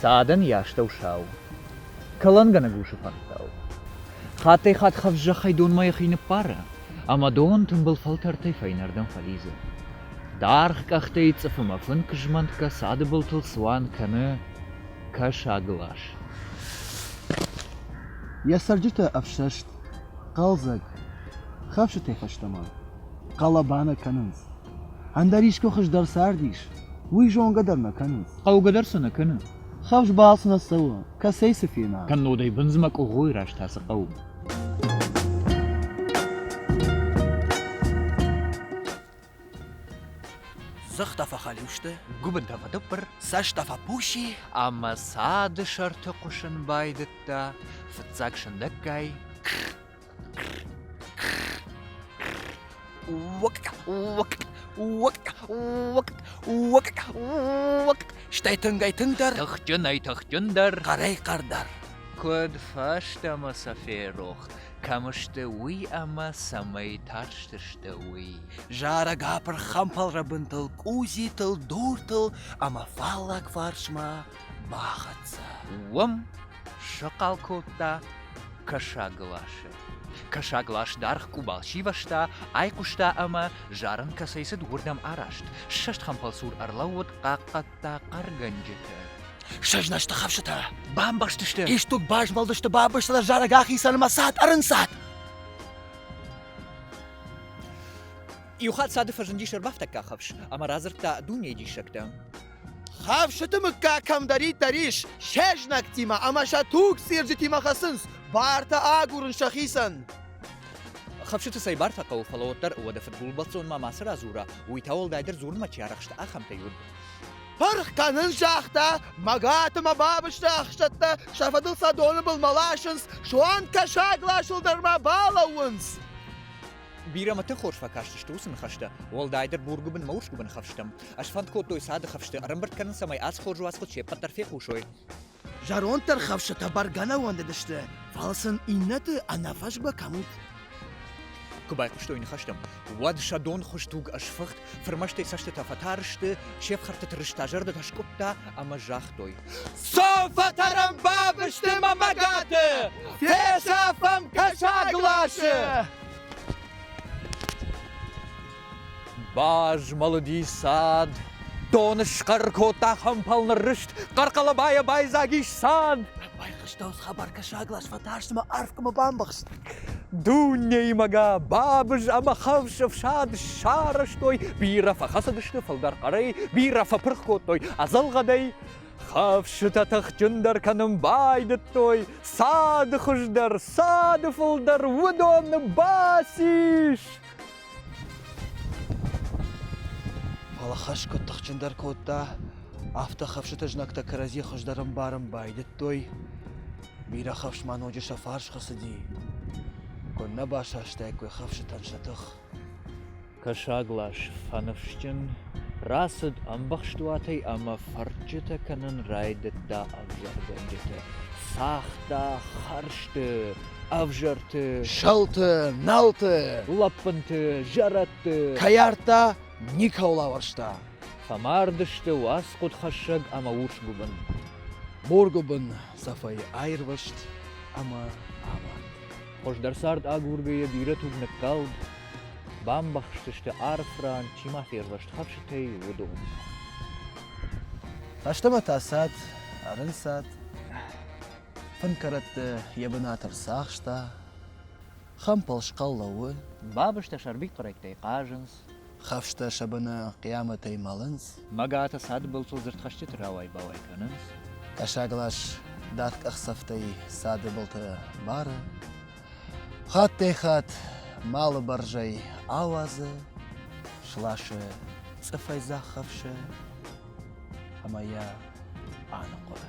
Цадӕн йӕ астӕусау, кӕлӕнгӕнӕг усы фӕндтау. Хаттӕй-хатт хӕфзӕхӕй донмӕ йӕхи ныппары. ӕмӕ дон тымбыл фӕлтӕртӕй фӕйнӕрдӕм фӕлидзы. Даргъ къӕхтӕй цъыфымӕ фынк-змӕнтгӕ цады былтыл цуан кӕны кӕсаг лас. Йӕ цӕрджытӕ ӕфсӕст, хъӕлдзӕг, хӕфсытӕй фӕстӕмӕ хъӕлӕбанӕ кӕнынц. Ӕндӕр искуы хуыздӕр цардис, уый зонгӕ дӕр нӕ кӕнынц. Хъӕугӕ дӕр цы нӕ кӕны. Хӕфс балц нӕ цӕуы, кӕцӕй цы фена. Кӕннод ӕй бындзмӕ къугъойы раз тасы хъӕу. Зыхтӕ фӕхӕлиу сты, гуыбындӕ фӕдыбыр, цӕстӕ фӕпуси ӕмӕ цады сӕрты хъуысын байдыдта фыццаг сындӕггай. Стӕй тынгӕй тынгдӕр, тыхджынӕй тыхджындӕр, хъӕрӕй хъӕрдӕр. Куыд фӕстӕмӕ сӕ ферох, кӕм сты, уый ӕмӕ цӕмӕй тарстысты, уый. Зарӕг апырх хӕмпӕлрӕбынтыл, къудзитыл, дуртыл ӕмӕ фаллаг фарсмӕ бахӕццӕ. Уым схъал кодта кӕсагласы. Кӕсаглас даргъ къубал сивӕзта, айхъуыста ӕмӕ зарын кӕцӕй цыд, уырдӕм араст. Ссӕст хӕмпӕлсур ӕрлӕууыд хъахъхъӕд кодта хъӕргӕнджытӕ. Сӕзнасты хӕфсытӕ бамбӕхст сты. Исдуг базмӕлдысты бабырсты зарӕг ахицӕнмӕ цад ӕрынцад. Иу хатт цады фӕзындис ӕрбафтӕггаг хӕфс ӕмӕ радзырдта дунейы диссӕгтӕ. Хӕфсыты мыггаг кӕмдӕриддӕр ис, сӕ знӕгтимӕ ӕмӕ сӕ туг цирджытимӕ хӕцынц, бартӕ агурын сӕхицӕн. Хӕфсыты цӕй бар фӕхъӕуы, фӕлӕ уӕддӕр уӕдӕ фыдгулбӕлццон ма мацы радзура, уый та уӕлдайдӕр дзурынмӕ чи арӕхсты, ахӕмтӕй уыд. Пырх кӕнын загъта, мӕгӕты мӕ бабызты ӕхсӕттӕ, сӕ фӕдыл сӕ доны былмӕ ласынц, суанг кӕсаг ласыл дӕр ма балӕууынц. Бирӕмӕты хорз фӕкастысты уыцы ныхӕстӕ, уӕлдайдӕр бургуыбын мӕ урсгуыбын хӕфстӕм. Ӕз фӕнд кодтой цады хӕфсты ӕрӕмбырд кӕнын, цӕмӕй ацы хорз уацхъуыд се ппӕт дӕр фехъусой. Зӕронд дӕр хӕфсытӕ бӕргӕ нӕ уӕндыдысты, фӕлӕ сын иннӕты ӕнӕфӕзгӕ кӕм уыд. Куы байхъуыстой ныхӕстӕм, уӕд сӕ донхуыз туг ӕсфыхт, фырмӕстӕй цӕстытӕ фӕтар сты, се фхӕрдты тырыста зӕрдӕтӕ скъуыдта ӕмӕ загътой: Цом фӕтӕрӕм бабырсты мӕ мӕгӕты! Фесӕфӕм кӕсаг ласы! Базмӕлыди цад, дон схъӕр кодта хӕмпӕл ныррыст, хъӕрхъӕлӕбайӕ байдзаг ис цад. Байхъуыстӕуц хабаркӕсӕглас фӕтарстмӕ арфгӕмӕ бамбӕхст. Дунеймӕгӕ бабыз ӕмӕ хӕфс ӕфсад сарӕзтой, бирӕ фӕхӕцыдысты фылдӕр хъӕрӕй, бирӕ фӕпырх кодтой ӕдзӕлгъӕдӕй. Хӕфсытӕ тыхджындӕр кӕнын байдыдтой, цады хуыздӕр, цады фылдӕр уыдон бацис. Фӕлӕ хӕс куыд тыхджындӕр кодта, афтӕ хӕфсыты знӕгтӕ кӕрӕдзи хуыздӕр ӕмбарын байдыдтой, бирӕ хӕфс ма ноджы сӕ фарсхы цыди. Куыннӕ басастаиккой хӕфсытӕн сӕ тых! Кӕсаглас фӕныфсджын рацыд ӕмбӕхст уатӕй ӕмӕ фӕрчытӕ кӕнын райдыдта ӕвзӕргӕнджыты. Цагъта хӕрзты ӕвзӕрты, сӕлты, налты, лӕппынты, зӕрӕдты кӕйӕрттӕ никӕуыл ауӕрста. Фӕмард сты уацхъуыдхӕссӕг ӕмӕ урсгуыбын. Моргуыбын цӕфӕй аирвӕзт ӕмӕ амард. Хуыздӕр цард агургӕ йӕ бирӕ туг ныккалд, бамбӕхсдзысты арф ран, чи ма фервӕзт хӕфсытӕй, уыдонмӕ. Фӕстӕмӕ та цад, ӕрынцад. Фын кӕрӕтты йӕ бынат ӕрцахста, хӕмпӕл схъӕл лӕууы. Бабызтӕ сӕрвитхъуырӕгтӕй хъазынц. Хӕфстӕ сӕ быны хъиамӕтӕй мӕлынц. Мӕгатӕ цадыбылцъыл дзырдхӕсджыты рауай-бауай кӕнынц. Кӕсаглас дат къахдзӕфтӕй цады былты бары. Хаттӕй-хатт малы бӕрзӕй ауадзы, сласы цъыфӕй дзӕх хӕфсы ӕмӕ йӕ аныхъуыры.